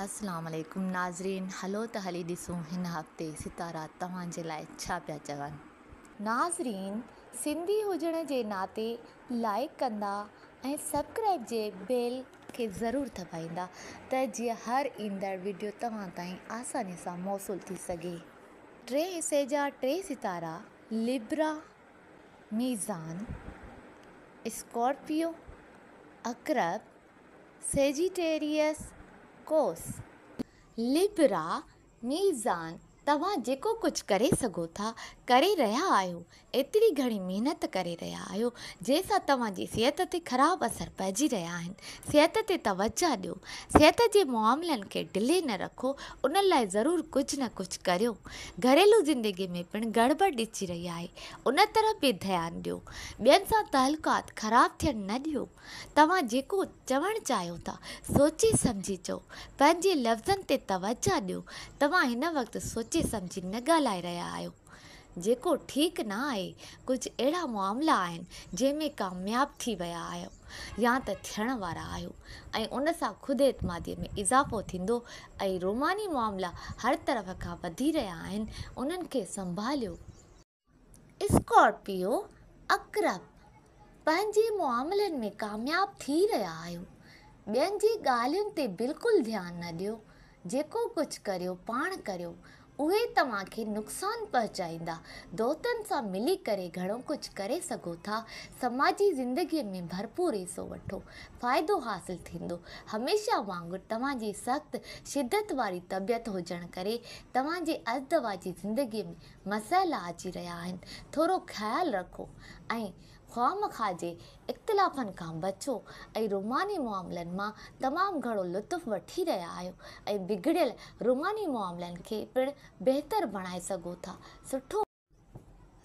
السلام عليڪم ناظرين هلو ته هلي ڏسون هن هفتي ستارا توهان جي لاء ڇا پيا چون. ناظرين سنڌي هجڻ جي ناتي لائيڪ ڪندا ۽ سبڪرائيب جي بيل کي ضرور دٻائيندا ته جيئن هر ايندڙ وڊيو توهان تائين آساني سان موصول ٿي سگهي. ٽئين حصي جا ٽي ستارا لبرا، ميزان، اسڪارپيو، عقرب، سيجيٽيريس قوس. لبرا ميزان توهان جيڪو ڪجهه ڪري سگهو ٿا ڪري رهيا آهيو ايتري گهڻي محنت ڪري رهيا آهيو جنهن سان توهان جي صحت تي خراب اثر پئجي رهيا آهن صحت تي توجهه ڏيو صحت جي معاملن کي ڍلي نه رکو ان لاء ضرور ڪجهه نه ڪجهه ڪريو گهريلو زندگي ۾ پڻ گڙٻڙ ڏسجي رهي آهي ان طرف به ڌيان ڏيو ٻين سان تعلقات خراب ٿيڻ نه ڏيو توهان جيڪو چوڻ چاهيو ٿا، سوچي سمجهي چئو. پنهنجي لفظن تي توجهه ڏيو. توهان هن وقت سوچي سمجهي نه ڳالهائي رهيا آهيو. جيڪو ٺيڪ نه آهي. ڪجهه اهڙا معاملا آهن، جنهن ۾ ڪامياب ٿي ويا آهيو يا ته ٿيڻ وارا آهيو ۽ ان سان خود اعتماديء ۾ اضافو ٿيندو ۽ روماني معاملا هر طرف کان وڌي رهيا آهن، انهن کي سنڀاليو. اسڪارپيو عقرب پنهنجي معاملن ۾ ڪامياب ٿي رهيا آهيو ٻين جي ڳالهين تي بلڪل ڌيان نه ڏيو جيڪو ڪجهه ڪريو پاڻ ڪريو اهي توهان کي نقصان پهچائيندا دوستن سان ملي ڪري گهڻو ڪجهه ڪري سگهو ٿا سماجي زندگي ۾ ڀرپور حصو وٺو فائدو حاصل ٿيندو هميشه وانگر توهان جي سخت شدت واري طبيعت هجڻ ڪري توهان جي ازدواجي زندگي ۾ مسئلا اچي رهيا آهن ٿورو خيال رکو ۽ خواهمخواه جي اختلافن کان بچو ۽ روماني معاملن مان تمام گهڻو لطف وٺي رهيا آهيو ۽ بگڙيل روماني معاملن کي پڻ بهتر بڻائي سگهو ٿا سٺو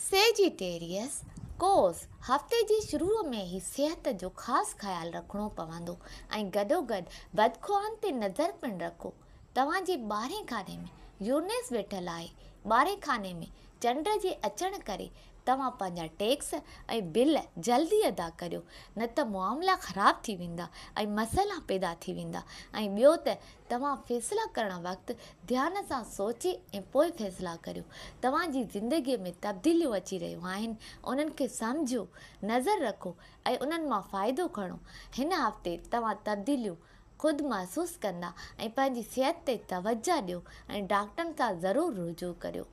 سيجيٽيريس، قوس، هفتي جي شروع ۾ ئي صحت جو خاص خيال رکڻو پوندو ۽ گڏوگڏ بدخواهن تي نظر پڻ رکو. توهان جي ٻارهين خاني ۾ يونيس ويٺل آهي. ٻارهين خاني ۾ چنڊ جي اچڻ ڪري توهان پنهنجا ٽيڪس ۽ بل جلدي ادا ڪريو نه ته معاملا خراب ٿي ويندا ۽ مسئلا پيدا ٿي ويندا ۽ ٻيو ته توهان فيصلا ڪرڻ وقت ڌيان سان سوچي ۽ پوء فيصلا ڪريو. توهان جي زندگي ۾ تبديليون اچي رهيون آهن انهن کي سمجهو، نظر رکو ۽ انهن مان فائدو کڻو. هن هفتي توهان تبديليون خود محسوس ڪندا ۽ پنهنجي صحت تي توجهه ڏيو ۽ ڊاڪٽرن سان ضرور رجوع ڪريو.